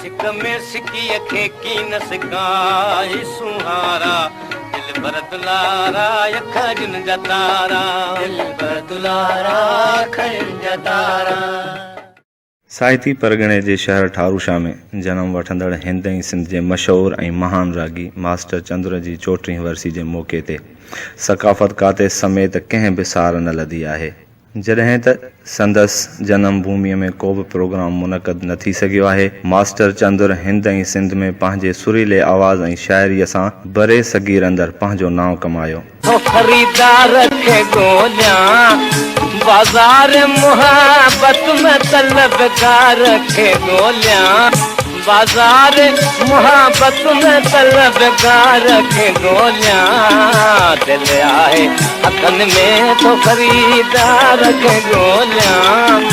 سڪ ۾ سڪيء کي ڪين سڪائي سونهارا دلبر دلارا اک جن جا تارا دلبر دلارا اک جن جا تارا. ساهتي پرڳڻي جي شهر ٺاروشا ۾ جنم وٺندڙ هند ۽ سنڌ جي مشهور ۽ مهان راڳي ماسٽر چندر جي چوٽيهين ورسي جي موقعي تي ثقافت ڪاتي سميت ڪنهن به سار نه لڌي آهي. جڏهن ته سندس جنم ڀوميء ۾ ڪو به پروگرام منعقد نه ٿي سگهيو آهي. ماسٽر چندر هند ۽ سنڌ ۾ پنهنجي سريلي آواز ۽ شاعريء سان بري صغير اندر پنهنجو نانء ڪمايو. هو خريدار کي ڳوليان، بازار محبت ۾ طلبگار کي ڳوليان. بازار محبت ۾ طلبگار کي ڳوليان دل آهي هٿن ۾ ٿو خريدار کي ڳوليان.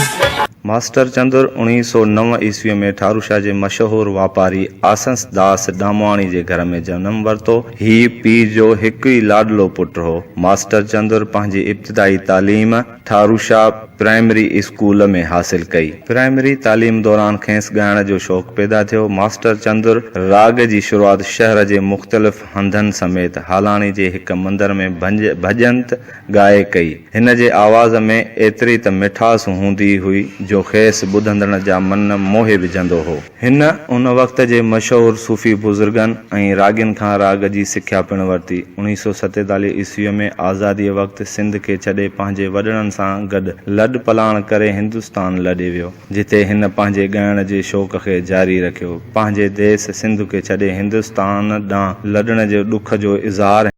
ماسٽر چندر اوڻيهه سؤ نو عيسويء ۾ ٺاروشاه جي مشهور واپاري آسنس داس ڏامواڻي جي گهر ۾ جنم ورتو. هي پيء جو هڪ ئي لاڏلو پٽ هو. ماسٽر چندر پنهنجي ابتدائي تعليم. ٿاروشاه پرائمري اسڪول ۾ حاصل ڪئي. پرائمري تعليم دوران کيس ڳائڻ جو شوق پيدا ٿيو. ماسٽر چندر راڳ جي شروعات شهر جي مختلف هنڌن سميت هالاڻي جي هڪ مندر ۾ ڀنج ڀڄنت ڳائي ڪئي. هن جي آواز ۾ ايتري ته مٺاس هوندي هئي جو کيس ٻڌندڙن جا من موهي وجهندو هو. هن ان وقت جي مشهور صوفي بزرگن ۽ راڳين کان راڳ جي سکيا پڻ ورتي. اڻيهه سؤ ستيتاليهه عيسويء ۾ آزاديء وقت سنڌ کي ڇڏي پنهنجي وڏڙن سان گڏ لڏ پلاڻ ڪري هندستان لڏي ويو، جتي هن پنهنجي ڳائڻ جي شوق کي جاري رکيو. پنهنجي ديس سنڌ کي ڇڏي هندستان ڏانهن لڏڻ جي ڏک جو اظهار هن.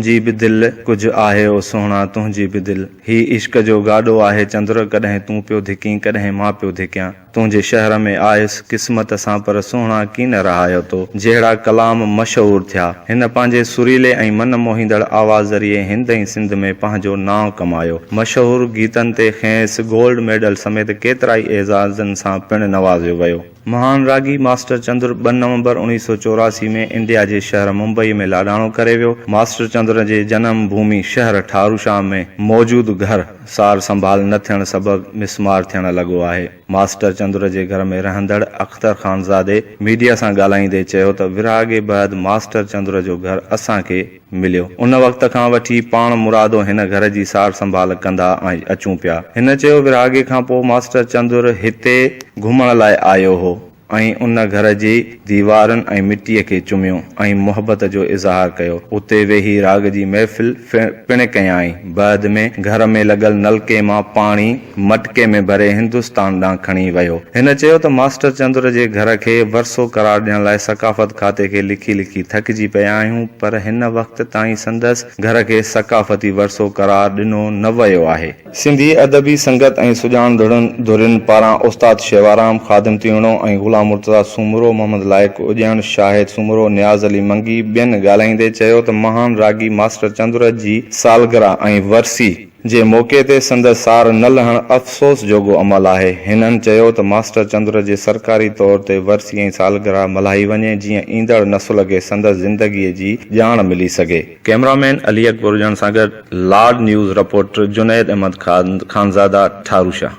تنهنجي به دل ڪجهه آهي او سهڻا تنهنجي به دل هي عشق جو گاڏو آهي چندر ڪڏهن تون پيو ڌڪين ڪڏهن مان پيو ڌڪيان تنهنجي شهر ۾ آيس قسمت سان پر سهڻا ڪي نه رهايو تو جهڙا ڪلام مشهور ٿيا هن پنهنجي سريلي ۽ من موهيندڙ آواز ذريعي هند ۽ سنڌ ۾ پنهنجو نانء ڪمايو مشهور گيتن تي کينئس گولڊ ميڊل سميت ڪيترائي اعزازن سان پڻ نوازيو ويو. مهان راڳي ماسٽر چندر ٻه نومبر اوڻيهه سؤ چوراسي ۾ انڊيا جي شهر ممبئي ۾ لاڏاڻو ڪري ويو. ماسٽر چندر جي جنم ڀومي شهر ٺاروشام ۾ موجود گهر سار سنڀال نه ٿيڻ سبب مسمار ٿيڻ لڳو آهي. ماسٽر چندر جي گهر ۾ رهندڙ اختر خانزادي ميڊيا سان ڳالهائيندي چيو ته ورهاڱي بعد ماسٽر چندر جو گهر اسان کي مليو. ان وقت کان وٺي پاڻ مرادو هن گهر جي سار سنڀال ڪندا اچون پيا. هن چيو ورهاڱي کان پوء ماسٽر چندر هتي گهمڻ لاء آيو هو ۽ ان گهر جي ديوارن ۽ مٽيء کي چميو ۽ محبت جو اظهار ڪيو. اتي ويهي راڳ جي محفل پڻ ڪيائين. بعد ۾ گهر ۾ لڳل نلڪي مان پاڻي. مٽڪي ۾ ڀري هندستان ڏانهن کڻي ويو. هن چيو ته ماسٽر چندر جي گهر کي ورثو قرار ڏيڻ لاء ثقافت کاتي کي لکي لکي ٿڪجي پيا آهيون پر هن وقت تائين سندس گهر کي ثقافتي ورثو قرار ڏنو نه ويو آهي. سنڌي ادبي سنگت ۽ سڄاڻندڙن ڌرين پاران استاد شيوارام، خادم تيوڻو ۽ غلام مرتضيٰ سومرو، محمد لائق اڄڻ، شاهد سومرو، نياز علي منگي ٻين ڳالهائيندي چيو ته مهان راڳي ماسٽر چندر جي سالگرهه ۽ ورسي، جي موقعي تي سندس سار نه لهڻ افسوس جوڳو عمل آهي. هنن چيو ته ماسٽر چندر جي سرڪاري طور تي ورسي ۽ سالگرهه ملهائي وڃي جيئن ايندڙ نسل کي سندس زندگي جي ڄاڻ ملي سگهي. ڪئميرا مين علي اڪبر اجهڻ سان گڏ لاڊ نيوز رپورٽر جنيد احمد خانزاده ٺاروشاه.